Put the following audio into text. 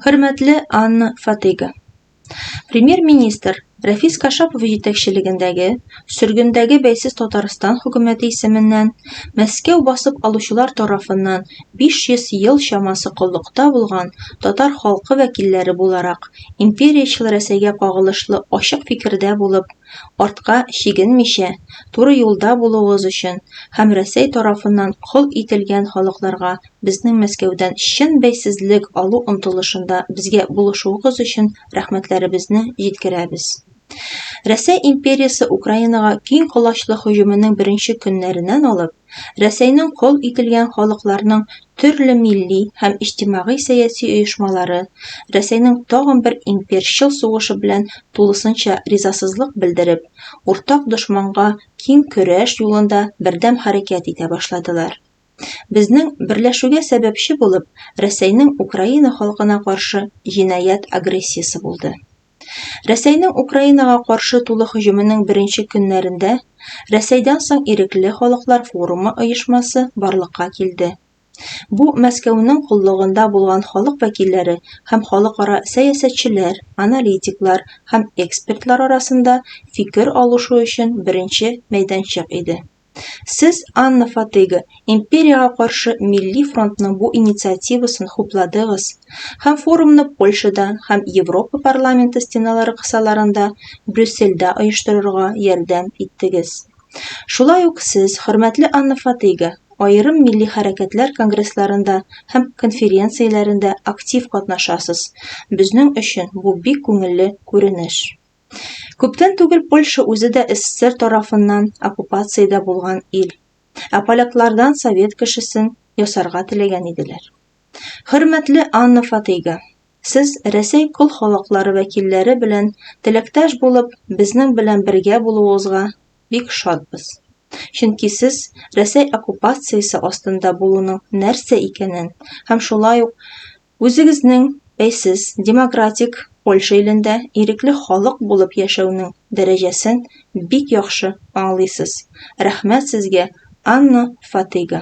Хөрмәтле Анна Фатыйга. Премьер-министр Рәфис Кашапов җитәкчелегендәге сөргендәге бәйсез Татарстан хөкүмәте исеменнән Мәскәү басып алучылар тарафыннан 500 ел чамасы коллыкта булган татар халкы вәкилләре буларак империячел Рәсәйгә кагылышлы ачык фикердә булып, артка чигенмичә, туры юлда булуыгыз өчен һәм Рәсәй тарафыннан кол ителгән халыкларга Безнең Мәскәүдән чын бәйсезлек алу омтылышында безгә булышуыгыз өчен рәхмәтләребезне җиткерәбез. Рәсәй империясе Украинага киң колачлы һөҗүменең беренче көннәреннән алып, Рәсәйнең кол ителгән халыкларның төрле милли һәм иҗтимагый-сәяси оешмалары Рәсәйнең тагын бер имперчыл сугышы белән тулысынча ризасызлык белдереп, уртак дошманга киң көрәш юлында бердәм хәрәкәт итә башладылар. Безнең берләшүгә сәбәпче булып Рәсәйнең Украина халкына каршы җинаять агрессиясе булды. Рәсәйнең Украинага каршы тулы һөҗүменең беренче көннәрендә Рәсәйдән соң Ирекле халыклар форумы оешмасы барлыкка килде. Бу Мәскәүнең коллыгында булган халык вәкилләре һәм халыкара сәясәтчеләр, аналитиклар һәм экспертлар арасында фикер алышу өчен беренче мәйданчык иде. Сез, Анна Фатыга, империягә каршы Милли фронтның бу инициативасын хупладыгыз һәм форумны Польшада һәм Европа парламенты стеналары кысаларында Брюссельдә оештырырга ярдәм иттегез. Шулай ук сез, хөрмәтле Анна Фатыга, аерым милли хәрәкәтләр конгрессларында һәм конференцияләрендә актив катнашасыз. Безнең өчен бу бик күңелле күренеш. Күптән түгел Польша үзе дә СССР тарафыннан оккупациядә булган ил. Ә поляклардан совет кешесен ясарга теләгән иделәр. Хөрмәтле Анна Фатыйга, сез Рәсәй кол халыклары вәкилләре белән теләктәш булып, безнең белән бергә булуыгызга бик шатбыз. Чөнки сез Рәсәй оккупациясе астында булуның нәрсә икәнен һәм шулай ук Үзегезнең бәйсез демократик Польша илендә ирекле халык булып яшәүнең дәрәҗәсен бик яхшы аңлыйсыз. Рәхмәт сезгә, Анна Фатыйга!